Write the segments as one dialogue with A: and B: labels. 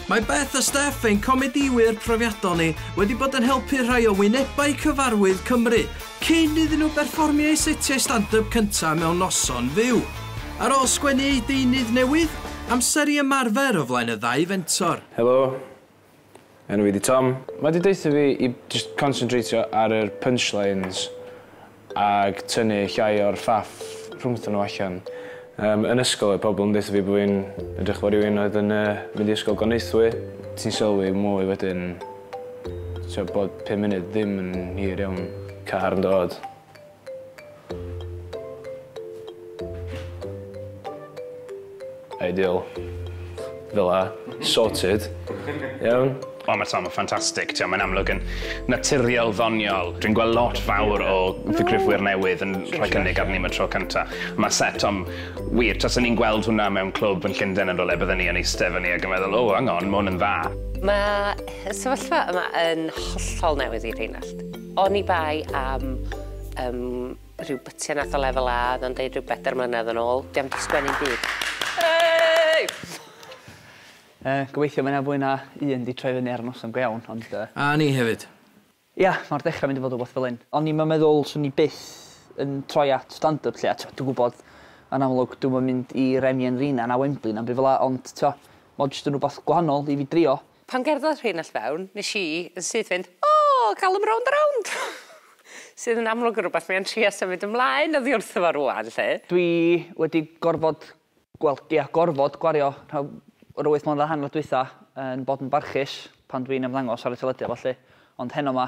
A: Mae Beth a Steph, ein comedïwyr profiadol ni, wedi bod yn helpu rhai o wynebau cyfarwydd Cymru cyn iddyn nhw berfformio eu setiau stand-yp cyntaf mewn noson fyw. Ar ôl sgwennu eu deunydd newydd, amser i ymarfer o flaen y ddau fentor. Helo.
B: Enw fi di Tom. Mae di deutha fi i jyst consyntreitio ar yr punchlines ag tynnu llai o'r ffaff rhwngthon nhw allan. Yym yn ysgol oedd pobl yn deutha fi bo fi'n edrych fel rywun oedd yn yy mynd i ysgol Goneithwy. Ti'n sylwi mwy wedyn t'o' bod pum munud ddim yn hir iawn. Car yn dod. Ideal. Fel 'a. Sorted. Iawn? O ma' Tom yn
C: ffantastig. T'mo' mae'n amlwg yn naturiol ddoniol. Dwi'n gweld lot fawr o ddigrifwyr newydd yn rhoi cynnig arni am y tro cynta. Ma' set Tom wir, tase ni'n gweld hwnna mewn clwb yn Llunden yn rywle bydden ni yn eiste fyny ag yn meddwl o hang on ma' 'wn yn dda. Ma'
D: y sefyllfa yma yn hollol newydd i Rheinallt. Oni bai am yym rhyw bytiau nath o lefel A o'dd o'n deud rhyw bedair mlynedd yn ôl, dio'm 'di sgwennu'm byd. Hei! Yy,
E: gobeithio mae 'na fwy na un 'di troi fyny ar y noson go iawn, ond yy. A ni hefyd.
A: Ia, ma'r
E: dechra'n mynd i fod wbath fel hyn. O'n i'm yn meddwl swn i byth yn troi at stand up 'lly, a t'mo' dwi'n gwbod yn amlwg dwi'm yn mynd i Remy and Rina na Wembley na'm by' fela ond t'mo' ma' o jyst yn wbath gwahanol i fi drio. Pan gerddodd rhein
D: all fewn, nes i, yn syth fynd, O! Gal 'em rownd a rownd! Sydd yn amlwg yn rwbeth mae o'n trio symud ymlaen oddi wrtho fo rwan, 'lly. Dwi wedi gorfod, wel, ia, gorfod gwario rhan o'r wyth mlynedd a hanner dwytha yn bod yn barchus pan dwi'n ymddangos ar y teledu a ballu, ond heno 'ma,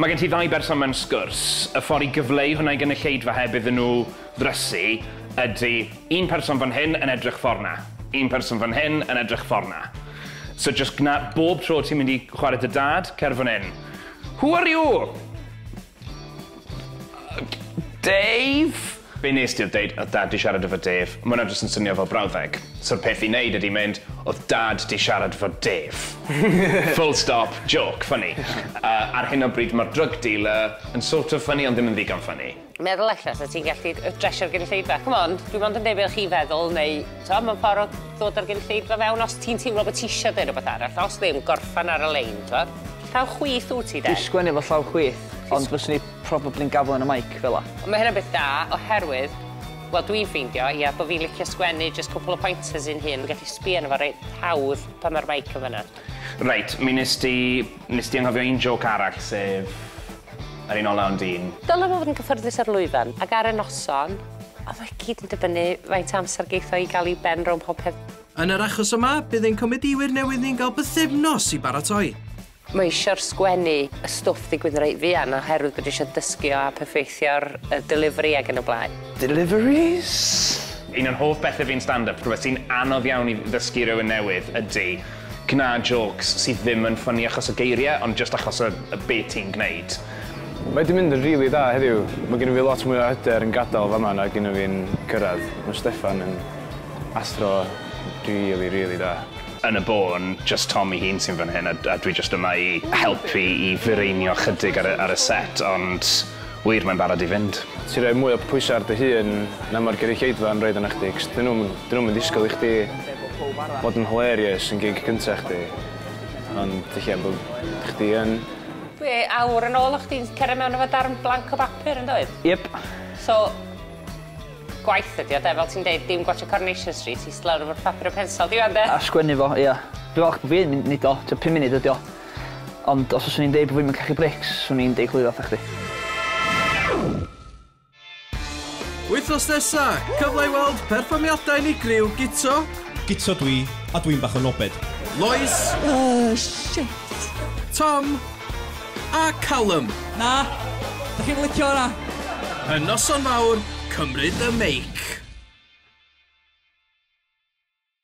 C: Mae gen ti ddau berson mewn sgwrs, y ffordd i gyfleu hwnna i gynulleidfa heb iddyn nhw ddrysu ydy un person fan hyn yn edrych ffordd 'na, un person fan hyn yn edrych ffordd 'na. So jyst gwna bob tro ti'n mynd i chwarae 'da dad, cer fan hyn. Who are you? Dave? Be nes di oedd deud oedd dad di siarad efo Dave? Ma' hwnna jyst yn swnio fel brawddeg. So'r peth i neud ydi mynd, oedd dad di siarad efo Dave. Full stop, jôc, ffyni. Yy ar hyn o bryd ma'r drug dealer yn sort of ffyni ond ddim yn ddigon ffyni. Meddwl ella sa ti'n gallu dresio'r gynulleidfa. Come on, dwi mond yn deud be o'ch chi'n feddwl neu t'o' mewn ffor o ddod â'r gynulleidfa fewn os ti'n teimlo bo' ti isio deud rwbeth arall, os ddim gorffen ar y lein t'wod. Llaw chwith wt ti de? Dwi sgwennu efo llaw chwith
E: ond fyswn i probably'n gaflen y mike fela. Ond mae hynna'n beth da
D: oherwydd, wel dwi'n ffeindio, ia, bod fi'n licio sgwennu jyst cwpl o pointers i'n hun, fi'n gallu sbio arno fo reit hawdd pan mae'r mike yn fan'na. Reit, mi wnest ti, wnest ti anghofio un jôc arall, sef yr un ola ond un. Dylai fo fod yn gyffyrddus ar lwyfan, ac ar y noson, ond mae gyd yn dibynnu faint o amser geith o i gael ei ben rownd popeth. Yn yr achos yma,
A: bydd ein comedïwyr newydd ni'n cael bythefnos i baratoi. Mae eisiau'r
D: sgwennu y stwff ddigwydd reit fuan oherwydd bod eisiau dysgu o a perffeithio'r y delivery ac yn y blaen. Deliveries?
C: Un o'n hoff bethe fi yn stand up, rhywbeth sy'n anodd iawn i ddysgu rywun newydd ydi gwna jôcs sydd ddim yn ffyni achos y geirie ond jyst achos y y be ti'n gwneud. Mae 'di mynd
B: yn rili dda heddiw. Mae gynno fi lot mwy o hyder yn gadael fama nag un o fi'n cyrraedd. Mae Steffan yn athro rili rili da. Yn y bôn,
C: jyst Tom 'i hun sy'n fan hyn a a dwi jyst yma i helpu i fireinio chydig ar y ar y set ond wir mae'n barod i fynd. Ti roi mwy o pwysa
B: ar dy hun na ma'r gyrigheidfa yn roid arna chdi 'c'os 'dyn nw'm 'dyn nw'm yn disgwl i chdi fod yn hilarious yn gig cynta chdi ond ella bo' chdi yn. Dwi awr
D: yn ôl o' chdi'n cere mewn efo darn blank o bapur yndoedd? Yep. So Gwaith ydi o de, fel ti'n deud, dim gwatsio Coronation Street, ista lawr efo'r papur a pensel, dim ond e? A sgwennu fo, ia.
E: Dwi falch bo' fi yn neud o, t'o' pum munud ydi o. Ond os fyswn i'n deud bo' fi'm yn cachu brics, swn i'n deuglwyddo atha chdi.
A: Wythnos nesa, cyfle i weld perfformiadau unigryw Guto. Guto dwi,
F: a dwi'n bach o nobed. Lois. Uhh
G: shit. Tom.
A: A Callum! Na! Dych chi'm
G: yn licio
A: hwnna! Y
G: noson
A: fawr, cymryd y
G: meic!